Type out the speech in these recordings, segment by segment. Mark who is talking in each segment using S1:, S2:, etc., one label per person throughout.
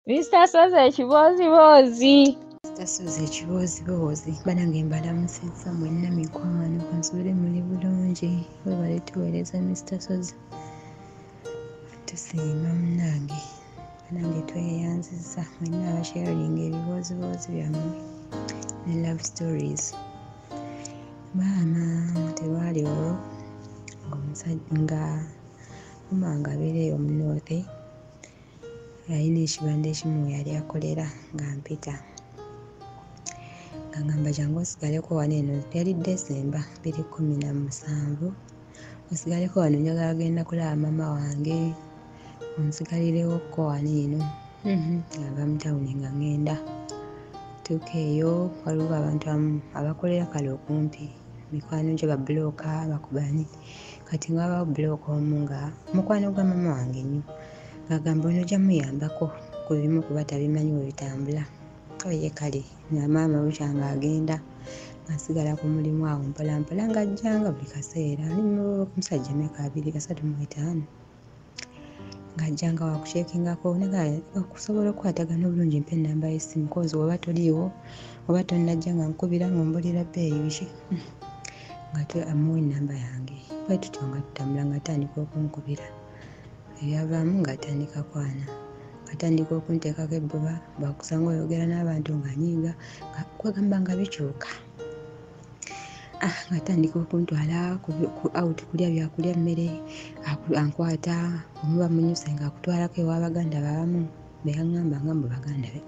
S1: Mr. Soze ekibooziboozi Mr. Soze
S2: ekibooziboozi banange mbalamusizza mwenna mikwano kansobere muli bulungi webale tuweereza Mr. Soze tusiima munange banange tweyanziza mwenna abasharinga ebibooziboozi byammwe ne love stories maama terwali olwo ngaomusajja nga mumanga abeereyo omunoothe nalina ekibanda ekimu yali akolera nga mpita ngagamba jangu osigaleko wano eno yali desemba biri kumi na musanvu osigaleko wano njagala genda kulaba mama wange onsigalirewokko wano eno mhm, ava mutawuni nga ngenda tuuka eyo waliwo abantu amu abakolera kale okumpi mikwano gyo babulooka bakubani kati nga wabawo bulooka omu nga mukwano gwa mama wange nyo ng'agamba ono ojja muyambako ku bimu kuba tabimanyi bwe bitambula oye kale nga maama bukya ng'agenda asigala ku mulimu awo mpolampola ng'ajjanga buli kaseera ali mumusajja emyaka abiri asatu mu etaano ng'ajjanga wakukyekingako naga okusobola okukwatagana obulungi mpa enamba y'essimu kozi oba toliiwo oba tonnajja nga nkubira nga ombulira bbeeyi biki nga amuwa enamba yange bwe tutyo nga tutambula nga atandika okunkubira ebyavaamu ng'atandika kwana atandika okunteekako ebbuba bwakusanga oyogera n'abantu ng'anyiiga kwegamba nga bikyuka ah, atandika okuntwala out kulya byakulya emmere ankwata omuba munyuse nga akutwalako ewabaganda babamu beyaŋamba nga mu baganda be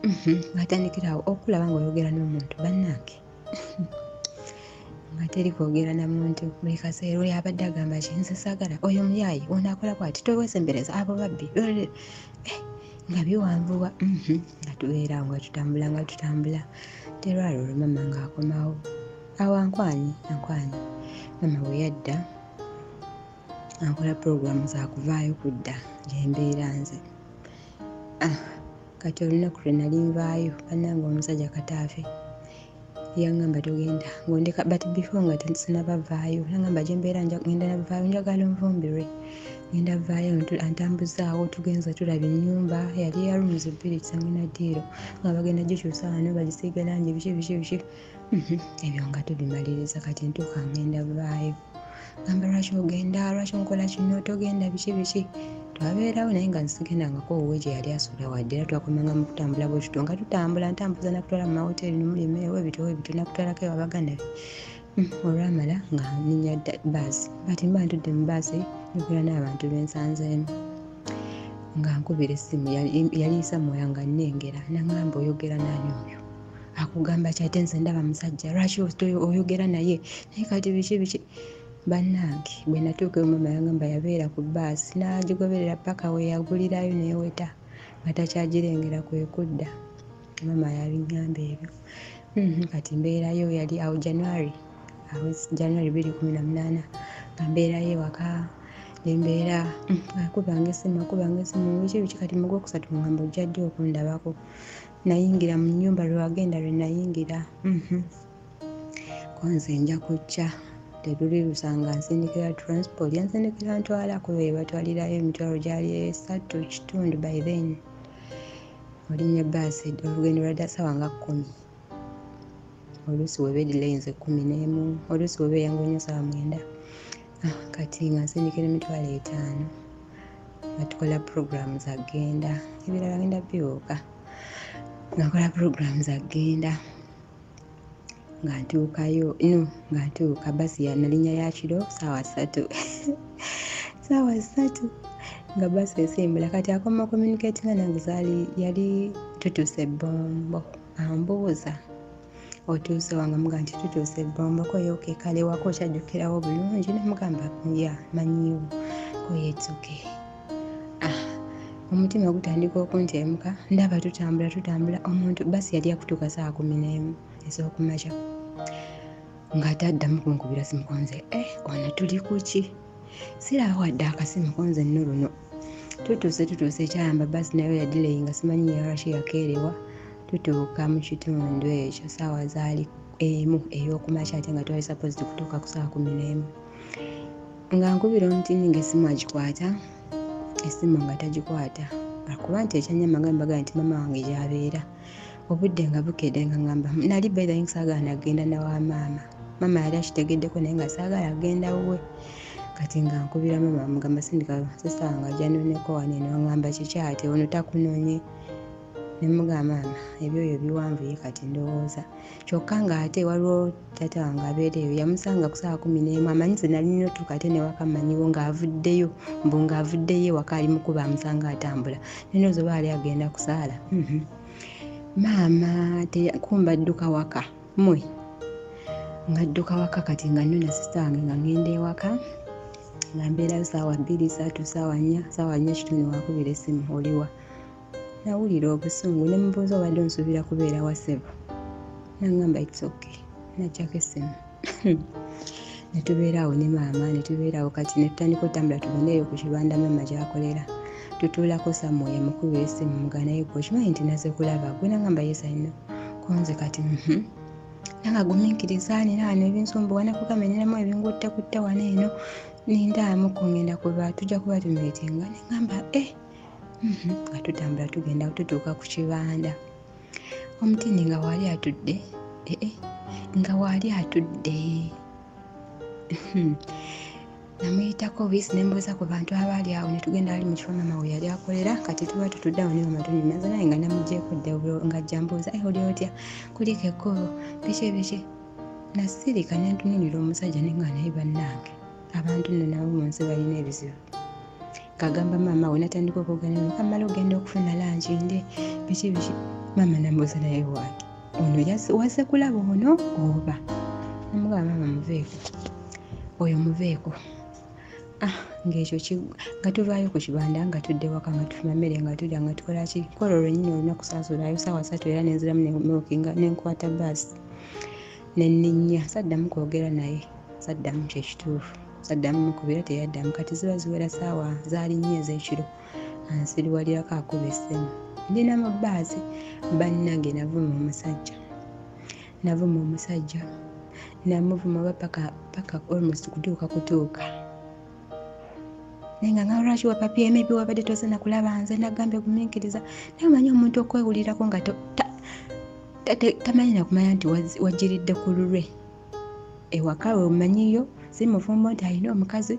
S2: mhm, atandikirawo okulaba ngaoyogera n'omuntu bannange nga teri kwogera na muntu buli kaseera oli abadde agamba ki nze saagala oyo muyaayi ono akola bwati towesembereza abo babbi eh, nga biwanvuwa mhm. nga tubeera nga tutambula nga tutambula terwali olwo mama ngaakomawo awo ankwanye ankwanye mama bwe yadda ankola puroguramu zakuvaayo kudda gyembeera nze ah. kati olunaku lwe nali nvaayo bannange omusajja kataafe yangamba togenda ngondeka but before nga tensinabavaayo nangamba gyembeera ngenda navaayo njagala nvumbirwe ngenda vaayo antambuzaawo tugenza tulaba enyumba yali ya rooms bbiri kisangina diiro nga bagenda gikyusa wano bagisiiga langi biki biki biki Mhm, ebyo nga tubimaliriza kati ntuuka ngenda bulayo gamba lwaki ogenda lwaki onkola kino togenda biki biki twabeerawo naye nga nsigendangako owuwe gye yali asula wadde era twakomanga mu kutambula bwekito nga tutambula ntambuza nakutwala mu mawoteeri nomulima ewebito webito nakutwalako ewabaganabe hmm, olwamala nga ninya baasi bati mba ntudde mu baasi nikola n'abantu bensanzeemu nga nkubira essimu yaliisa mwoya nga nnengera nangamba oyogera nani oyo akugamba ki ate nze ndaba musajja lwaki oyogera naye naye kati biki biki bannange bwe natuuka omama yangamba yabeera ku baasi n'agigoberera paka we yagulirayo neeweta nga takyagirengera kwe kudda mama yabinyamba ebyo mhm, kati mbeerayo yali awo january awo january biri kumi na munaana nga mbeerayo ewaka nembeera mm, akubanga esimu akubanga esimu biki biki kati mugwokusatu mugamba ojja ddi okundabako nayingira mu nyumba lwewagenda lwenayingira mhm. konze nja kujja teluli lusanga nsindikira transport yansindikira ntwala kuba ebatwalirayo emitwalo gyali esatu kitundu by then olinya baasi olugendo lwadda sawa nga kumi oluusi weba edilainze kumi nemu oluusi weba eyangu nyo sawa mwenda ah, kati nga nsindikira emitwalo etaano nga tukola puroguramu zagenda ebirala genda biwuuka nga nkola puroguramu zagenda nga ntuukayo no nga ntuuka basi yanalinya yakiro saawa satu saawa satu nga basi esimbula kati akoma communicatinga nange zali yali tutuse bombo ambuuza otuuse wange muga nti tutuuse ebombo koyoke kale wako okyajjukirawo bulungi nemugamba ya manyiwo koyetsuke ah, omutima ogutandika okuntemuka ndaba tutambula tutambula omuntu basi yali akutuuka saa kumi nemu ez'okumakya ng'ate addamu kunkubira simu konze e eh, ono tuli kuki siraba wadde akasimu konze nno luno tutuuse tutuuse ekyayamba basi nayo yadileyi nga simanyi yarashi yakeerewa tutuuka mu kitundu ekyo saawa zaali emu ey'okumakya ate nga twali sapozi kutuuka ku saawa kumi n'emu nga nkubira omutiini ng'essimu agikwata essimu nga tagikwata akuba nti ekyanyama nga mbaga nti mama wange gyabeera obudde nga bukedde nga ngamba nali baithin saagala nagenda nawa maama maama yali akitegeddeko naye nga saagala agenda wuwe kati nga nkubira maama mugamba sindika sisanga janoneko waneno ngamba kikyate ono takunonye nemuga maama ebyoyo biwanvuye kati ndowooza kyokka ng'ate waliwo tata wange abeera eyo yamusanga ku saawa kumi n'emu amanyi ze nali nina otuuka ate newaka manyiwo ng'avuddeyo mbu ng'avuddeyo ewaka ali mukuba amusanga atambula nino zoba ali agenda kusaala mhm. maama kumba dduka waka mwe nga dduka waka kati nga nyo nasista wange nga ngenda ewaka nga mbeerayo saawa bbiri saatu saawa nnya saawa nnya kitundu wakubira essimu oliwa nawulira obusungu ne mubuuza obadde onsuubira kubeera wasebo nangamba its ok najjako essimu netubeeraawo ne maama netubeeraawo kati netutandika otambula tugendeeyo ku kibanda maama gyakolera tutuulako samwoyo mukuba esimu muganaye gwe okimanyi nti naze kulaba gwe nangamba yesaino konze kati mhm. nanga guminkiriza nina wano ebinsumbuwa nakugamenyeramu ebingutte kutte wano eno nindaamu kungenda kuba tujja kuba tumitinga nengamba e eh. mhm, nga tutambula tugenda tutuuka ku kibanda omutini nga waali atudde ee eh, eh, nga waali atudde mhm. namuyitako biisi nembuuza ku bantu abaali awo netugenda ali mu kifo mama we yali akolera kati tuba tutudde awo niwe matuni maze naye nga namugyeko dde nga ajja mbuuza e oli otya kuliko ekkubo biki ebiki nasirika nentuninira omusajja nenga naye bannange abantu nno nabo mu nsi balina ebizibu kagamba maama we natandika okwogerera mukamala ogenda okufuna langi nde biki biki maama nambuuza naye wange ono waze kulaba ono oba namugaba maama muveeko oyo muveeko ah, ngaekyo nga tuvaayo ku kibanda nga tudde waka nga tufuna mmere nga tudya nga tukola ki kola olwenyini olina kusaasulayo saawa satu era nenziramu nemukinga nenkwata baasi nenninya saddamu kwogera naye saddamu kyekituufu saddamu mukubira teyaddamu kati ziba ziwera saawa zaali nnyo ez'ekiro ansiriwalirako akuba essimu ndi na mu bbaasi bannange navuma omusajja navuma omusajja namuvuma oba paka paka almost kutuuka kutuuka naye nga nga lwaki wapapye maybe wabadde tozana kulaba nze nagambye guminkiriza naye omanyi omuntu okwewulirako nga tamanyi nakumanya nti wajiridde ku lulwe ewaka we omanyiyo si mufumbo nti alina omukazi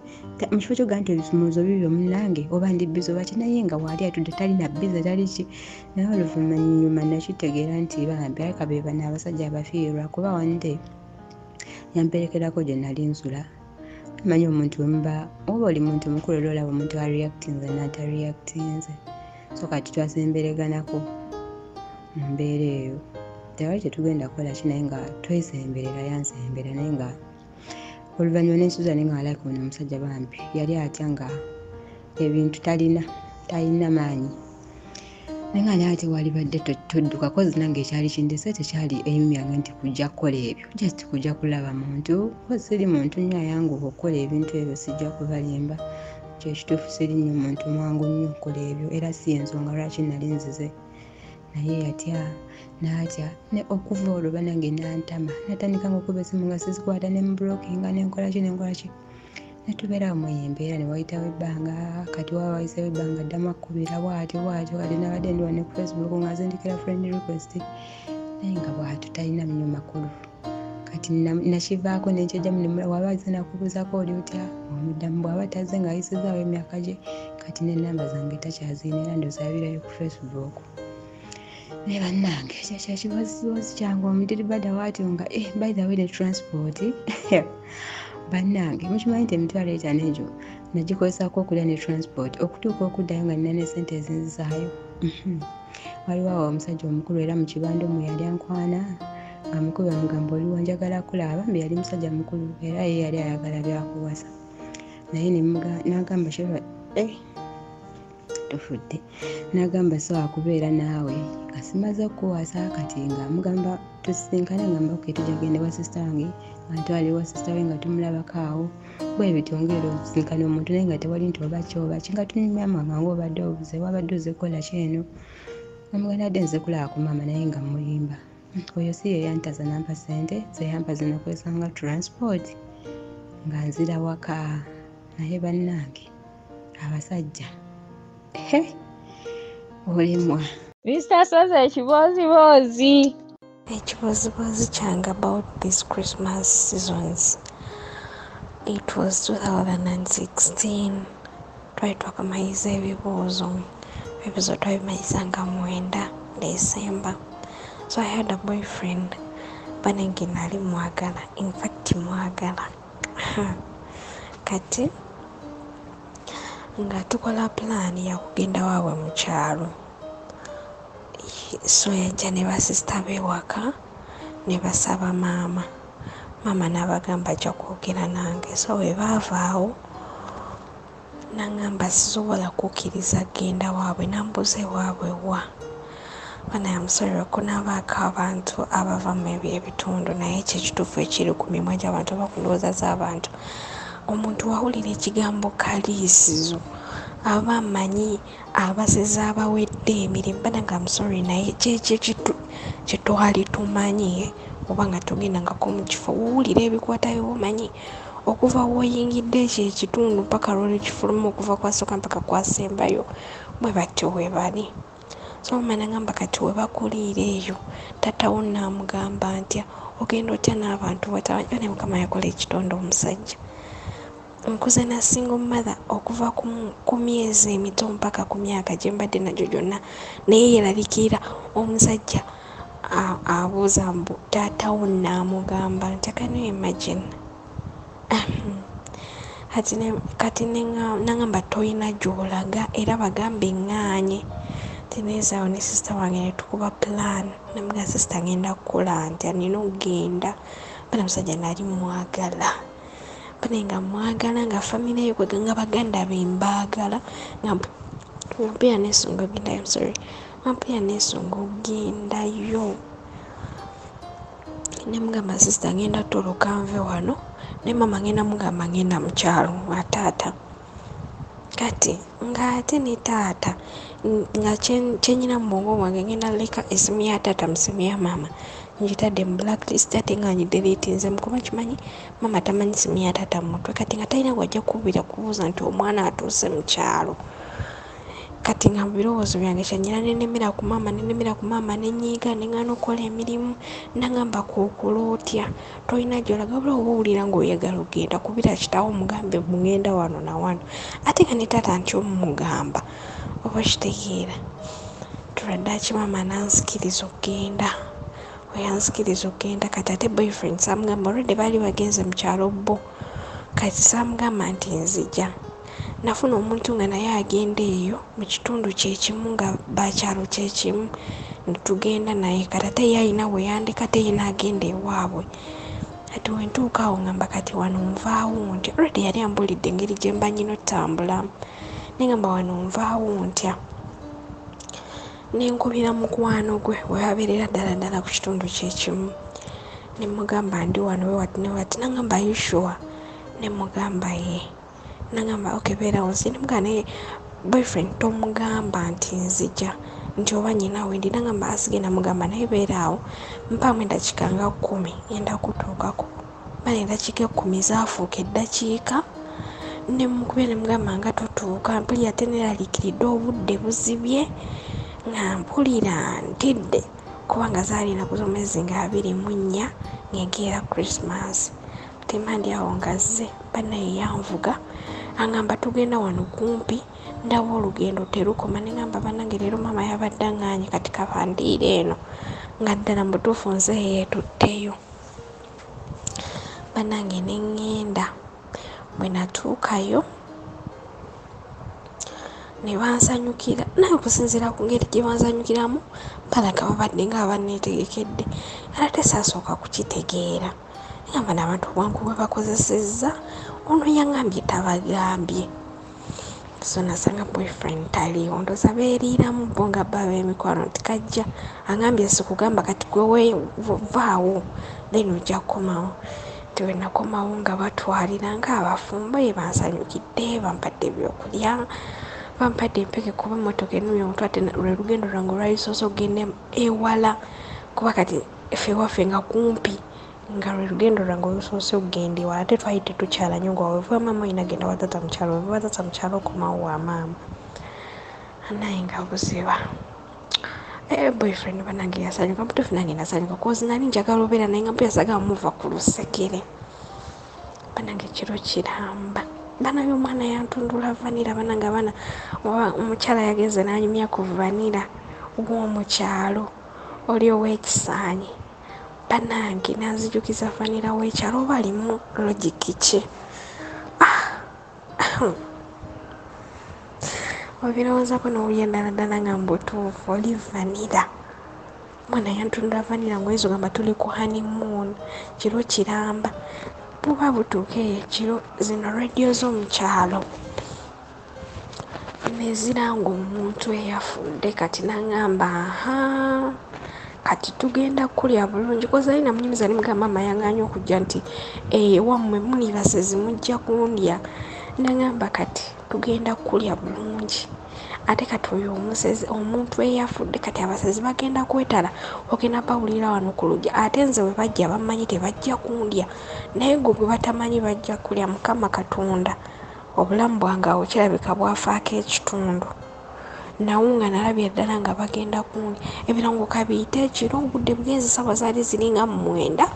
S2: mu kifo kyoga nti ebisumuluzo bibyo munange oba ndi biza oba kinaye nga waali atudde talina biza tali ki naye oluvanyuma nakitegeera nti bambi aleka be bana abasajja abafiirwa kuba wande yamperekerako gye nali nsula manyi omuntu wemuba oba oli muntu mukulu era olaba omuntu areactinze natareactinze so kati twasembereganako mu mbeera eyo tewali kyetugenda kukola ki naye nga twesemberera yansembera naye nga oluvannyuma nensuza naye nga alike ono omusajja bambi yali atya nga ebintu talina talina maanyi naye nga naye ate walibadde toddukako zinange ekyali kindese tekyali eyimu yange nti kujja kukola ebyo just kujja kulaba muntu kuba siri muntu nnyo ayanguba okukola ebintu ebyo sijja kubalimba kyekituufu siri nnyo muntu mwangu nnyo okukola ebyo era si ensonga lwaki nali nzize naye yatya natya ne okuva olwo banange nantama natandika ngaokuba esimu nga sizikwata ne mubulokinga nenkolaki nenkolaki netubeera mu embeera ne wayitawo ebbanga kati waba wayisewo ebbanga addamu akkubira bwatyo bwatyo kati nabadde ndiwa ne ku facebook nga zindikira friend request naye nga bwatyo talina mnyo makulu kati nakivaako nenkyajamu waba aze nakubuuzako oli otya omuddamu bwaba taze nga ayisizaawo emyaka gye kati nenamba zange takyazina era ndozabirayo ku facebook naye bannange kyekyekibozibozi kyange omudiri bada watyo nga eh, by the way ne transport bannange mukimanyi nti emitwalo etano egyo nagikozesako okulya ne transport okutuuka okuddayo nga nina ne sente ezinzisaayo mhm. waliwo awo omusajja omukulu era mukibanda omu yali ankwana nga mukulu amugamba oliwo njagala kulaaba mbe yali musajja mukulu era ye yali ayagala byakuwasa naye nagamba eh, tufudde nagamba sobola kubeera naawe asimaze okukuwaasa kati nga mugamba tusisinkana ngamba ke tujagenda wa sisita wange antwali wa sisita we nga tumulabako awo bwebityo ngaera osisinkana omuntu naye nga tewali nti oba kyoba kinga tunyumya mama nga obadde obuze wabadde oze kukola kyeno omuganda adde nze kulaba ku maama naye nga mulimba oyo si yeyantaza nampa sente zeyampa zinakozesa nga transport nga nzira waka naye bannange abasajja olimwa mr
S1: soza ekibooziboozi ekibooziboozi
S3: kyange about this christmas seasons it was 2016 twali twakamayiza ebibuuzo ebibuuzo twabimanyisanga mwenda december so i had a boyfriend banenge nali mwagala infact mwagala kati nga tukola pulaani yakugenda waabwe mu kyalo so yajja ne basisita beewaka ne basaba maama maama n'abagamba ajja kwogera nange so bwe baavaawo nangamba sisobola kukkiriza genda waabwe nambuuza ewaabwe wa bana yamusonyiwa okunabaako abantu abava mu ebyo ebitundu naye ekyo ekituufu ekiri ku mimwa gy'abantu oba ku ndowooza z'abantu omuntu wawulira ekigambo kaliisizo aba amanyi abasezi abawedde emirimu banaga amusori naye kyekyo kyetwali tumanyi oba nga tugenda ngako mu kifo wowulira ebikwatayo omanyi okuva woyingidde ekyo ekitundu paka lwolukifulumu okuva kwasoka mpaka kwasembayo bwe batyo webali so mama nagamba kati webakuliira eyo tatawo namugamba ntya ogenda otya n'abantu batabanyi bane mukama yakola ekitonde omusajja nkuze na single mother okuva ku myezi emito mpaka ku myaka gye mbadde nagyo gyonna naye yeralikirira omusajja abuuza mbu taatawo naamugamba ntekano imagine kati nangamba tolina gyolaga era bagambe ŋŋaanye tinezaawo ne sisita wange netukuba plan namuga sisita ngenda kukola nti anina okugenda bana musajja nali mwagala bane nga mwagala nga famire yo kwega nga baganda be mbaagala nga mpulira nesunga ogendayo sorry mpulira nesunga ogendayo nemugamba sisita ngenda toloka nve wano ne mama ngenda mugamba ngenda mukyalo ataata kati ng'ate ne taata nga kyenyina mu bwongo bwange ngenda leka esimu ya taata mu simu ya maama ngitadde mu blacklist ate nga ngideletinze mukuba kimanyi maama tamanyi simu ya taata mu mutwe kati nga talina wajja kuwubira kubuuza nti omwana atuuse mu kyalo kati nga mu birowoozo byange kyanyina nenemera ku maama nenemera ku maama nenyiiga neŋana okukola emirimu nagamba kukula otya tolina gyolaga bula oba owulira ngaoyagala ogenda kubira kitawo omugambe mugenda wano nawano ate nga ne taata nti omumugamba oba kitegeera tuladde akimaama nanzikiriza okugenda oyanzikiriza okugenda kati ate boyfriend samugamba olwedde baali bagenze mu kyalo bbo kati samugamba nti nzija Nafuna omuntu nga naye agenda eyo mu kitundu kye kimu nga bakyalo kye kimu ne tugenda naye kati ate ye alina we yandeka ate ye n'agenda ewaabwe. Kati we ntuuka awo ngamba kati wano nvaawo ntya already yali ambuulidde engeri gye mba nnyina otambulamu naye ngamba wano nvaawo ntya ne nkubira mukwano gwe we babeerera ddala ddala ku kitundu kye kimu ne mmugamba ndi wano we wati ne wati n'aŋamba are you sure ne mmugamba yee. nagamba ok beerawo nzini muga naye boyfriend tomugamba nti nzija nti oba nyina wendi nagamba asigenda mugamba naye beeraawo mpaamu eddakiika nga kkumi enda kutuukako mala eddakiika ekkumi zaafuuka eddakiika nemukube nemugamba nga totuuka mpulira ate neraliikiridde obudde buzibye nga mpulira ntidde kubanga zaali enaku z'omwezi nga abiri mu nnya ngegeera christmas temandi awo ngazze banaye yanvuga angamba tugenda wano kumpi ndaba olugendo terukoma nengamba banange leero maama yabadde anganye kati kabandiira eno nga ddala mubutuufu nze yeetutteyo banange nengenda bwe natuukayo ne bansanyukira naye okusinziira ku ngeri gye bansanyukiramu balaga babadde nga abanneetegekedde era tesaasooka kukitegeera yamba nabantu obwangu bwebakozesezza ono yangambye tabagambye so nasanga boyfriend taliiwo ndoza beeriiramu bo nga bba bemikwano nti kajja angambye sikugamba kati gwewevaawo then ojja kukomawo nti wenakomawo nga batwalira nga abafumbo ye bansanyukidde bampadde ebyokulya bampadde empeke kuba motoka enumya omutw ate lwe lugendo lwange olwalisoose okugenda ewala kuba kati ffe ewaffe nga kumpi nga lwe lugendo lwange olusoose okugenda ewala ate twali tetukyala nyo nga wevuba maama olina genda watata mukyalo wevuba tata mukyalo okomawo wa maama anaye nga buziba eh, boyfriend banange yasanyuka mutuufu nange nasanyuka kozi nali njagala obeera naye nga mpuyasaga muva ku lusekere banange kiro kiramba banange omwana yantundula vanira banange abaana omukyala yagenze nanyumya ku vanira w'omukyalo oli owekisaanyi banange nanzijukiza vanira wekyalo oba alimu logiki ki ah, obirowoozako nowulya ddaladala nga mbutuufu oli vanira mwana yantunula vanira ngwezo gamba tuli ku honeymoon kiro kiramba buba butuuka eyo ekiro zino radio z'omukyalo nezira ng'omuntu eyafudde kati nangamba aha kati tugenda kukulya bulungi kozali namunyumiza nimugamba maama yanganya okujja nti ewammwe eh, munibasezi mujja kundya nangamba kati tugenda kukulya bulungi ate kati oyo omusezi omuntu eyafudde kati abasezi bagenda kwetala ogenda bawulira wano ku lugya ate nze bwe bajja bamanyi tebajja kundya naye gwe gwe batamanyi bajja kulya mukama katonda obulamu bwange awo kirabika bwafaako ekitundu nawo nga nalabye ddala nga bagenda kundi ebirango kabiite ekiro obudde bwenzi saawa zaali ziringa mu mwenda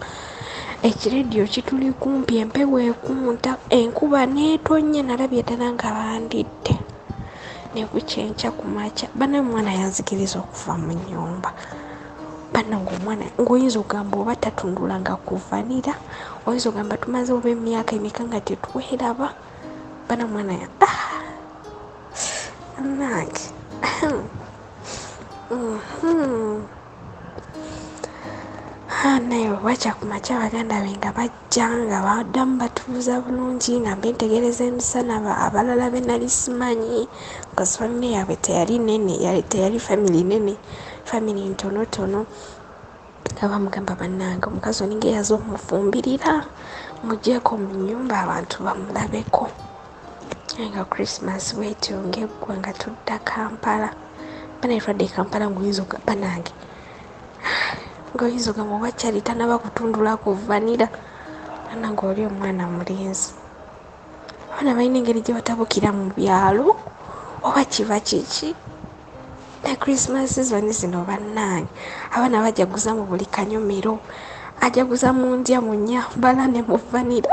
S3: ekirediyo kituli kumpi empewo ekunta enkuba neetonnya nalabye ddala nga bandidde nekukyenkya ku makya banaye omwana yanzikiriza okuva mu nyumba bana ngaomwana ngaoyinza ogamba oba tatundula nga kuvanira oyinza ogamba tumaze oba emyaka emeka nga tetweraba bana mwana ya nange naye wakyakumakya baganda be nga bajja bajja nga baddamu batubuuza bulungi nga mbe ntegereza emisana abalala be nali simanyi bcause famire yaabwe teyali nene teyali family nene family ntonotono nga bamugamba bannange omukazi oninga eyaza omufumbirira mugyeko mu nyumba abantu bamulabeko nga christmas wetyo ngaeggwa nga tudda kampala banayetwadde e kampala ngaoyinza okugamba nange ngoyizo gamuwa kyali tanaba kutundula ku vanira ana ngaoli omwana mulenzi abaana balina engeri gye batabukira mu byalo oba kiba kiki ne christmas sizoni zino bannange abaana bajaguza mu buli kanyomero ajaguza mu ndya mu nyambala ne mu vanira